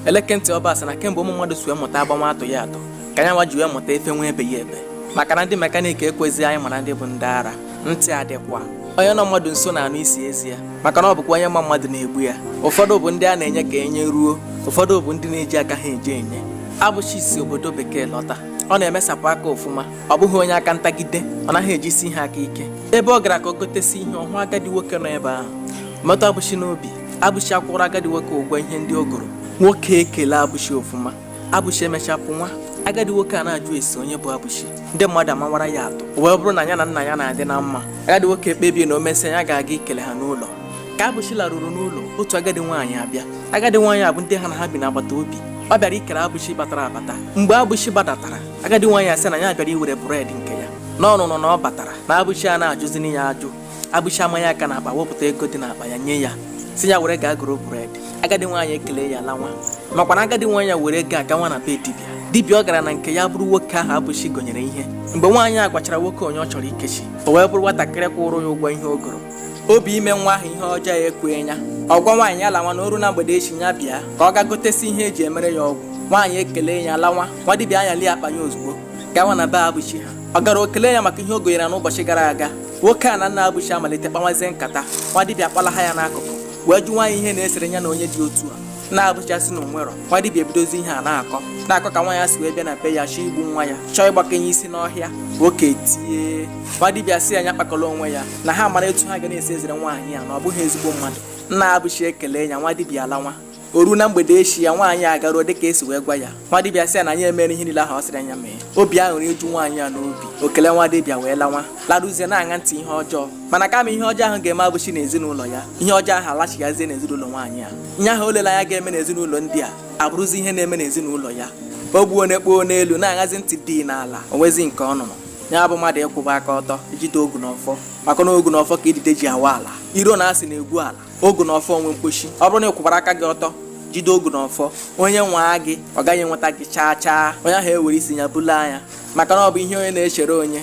Eleke ntị ọba sị na kemgbe ụmụ mmadụ si wee mụta agbanwe atụghị atụ ka ya nwa ji wee mụta efenwe ebeghị ebe maka na ndị mekaniki ekwezighị anyị mara ndị bụ ndị ara ntị adịkwa onye nọ mmadụ nso na-anụ isi ezi ya maka na ọ bụkwa onye ma mmadụ na-egbu ya ụfọdụ bụ ndị a na-enye ka enye ruo ụfọdụ bụ ndị na-eji aka ha eje enye abụchi si obodo bekee lọta ọ na-emesapụ aka ọfụma ọ bụghị onye aka ntagide ọ naghị ejisi ihe aka ike ebe ọ gara ka o gotesi ihe ọ hụ agadi nwoke nọ ebe ahụ metụ abụchi n'obi abụchi akwụrụ agadi nwoke ụgwọ ihe ndị o goro nwoke ekele abụchi ọfụma abụchi emecha pụwa agadi nwoke a na-ajụsi onye bụ abụchi ndị mmadụ amawara ya atụ o wee bụrụ na ya na nna ya na-adị na mma agadi nwoke ekpebie na o mesịa ya ga-aga ikele ha n'ụlọ ka abụchi laruru n'ụlọ otu agadi nwaanyị abịa agadi nwaanyị a bụ ndị ha na ha bi n'agbata obi ọ bịara ikele abụchi batara abata mgbe abụchi gbadatara agadi nwaanyị asị na ya bịara iwere bụredi nke ya na ọ nụrụ na ọ batara na abụchi a na-ajụzini ya ajụ abụchi amanye aka n'akpa wepụta ego dị n'akpa ya nye ya sị ya were gaa goro bred agadi nwaanyị ekele ya lawa makwa na agadi nwaanyị a were ego a gawa na be dibịa dibịa ọ gara na nke ya bụrụ nwoke ahụ abụchi gonyere ihe mgbe nwaanyị a gwachara nwoke onye ọ chọrọ ikechi o wee bụrụ nwatakịrị kwụrụ ya ụgwọ ihe o goro obi ime nwa ahụ ihe ọjọọ a ekweghị ya ọ gwa nwaanyị ya lawa na o ruo na mgbede echi ya bịa ka ọ gaa gotesi ihe e ji emere ya ọgwụ nwaanyị ekele ya lawa nwa dibịa anyalie akpa ya ozugbo gawa na be abụchi ha ọ garuo kele ya maka ihe o gonyere n'ụbọchị gara aga nwoke a na nna abụchi amalite kpawazie nkata nwa dibịa akpalaha ya n'akụkụ wee jụwa ya ihe na-esere ya na onye dị otu a nna abụchi sị na o nwerọ nwa dibịa ebidozi ihe a na-akọ na-akọ ka nwaanyị a si wee bịa na be ya chọọ igbu nwa ya chọọ ịgbaka ya isi n'ọhịa nwoke etie nwa dibịa sị ya nya kpakọrọ onwe ya na ha mara etu ha ga na-esi ezere nwaanyị a na ọ bụghị ezigbo mmadụ nna abụchi ekele ya nwa dibịa alawa o ruo na mgbede echi ya nwaanyị a garuo dịka e si wee gwa ya nwa dibịa sị ya na ya mere ihe niile ahụ ọ sịrị ya mee obi aṅụrị eju nwaanyị a n'obi o kelee nwa dibịa wee lawa laruzie na-aṅa ntị ihe ọjọọ mana kama ihe ọjọọ ahụ ga-eme abụchi n'ezinụlọ ya ihe ọjọọ ahụ alachighazie n'ezinụlọ nwaanyị a ihe ahụ o lele anya ga-eme n'ezinụlọ ndị a abụrụzi ihe na-eme n'ezinụlọ ya o gbuo na-ekpoo n'elu na-aṅazi ntị dị n'ala o nwezi nke ọ nụrụ ya bụ mmadụ ịkwụba aka ọtọ ijide ogu na ọfọ maka na ogu na ọfọ ka idide ji awa ala iro na asị na-egwu ala ogu na ọfọ nwe mkpochi ọ bụrụ na ị kwụbara aka gị ọtọ jide ogu na ọfọ onye nwaa gị ọ gaghị enweta gị chaa chaa onye ahụ ewere isi ya bulu ya maka na ọ bụ ihe onye na-echere onye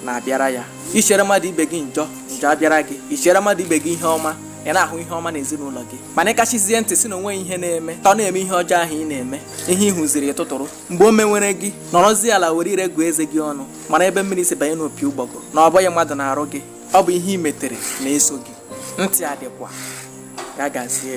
na-abịara ya i chere mmadụ ibe gị njọ njọ abịara gị i chere mmadụ ibe gị ihe ọma ị na-ahụ ihe ọma n'ezinụlọ gị mana ịkachizie ntị sị na o nweghị ihe na-eme ka ọ na-eme ihe ọjọọ ahụ ị na-eme ihe ị hụziri ị tụtụrụ mgbe o menwere gị nọrọzie ala were ire gụọ eze gị ọnụ mara ebe mmiri si banye n'opi ụgbọgụrụ na ọ bụghị mmadụ na-arụ gị Ọ bụ ihe i metere na-eso gị, ntị adịkwa. Ya gazie.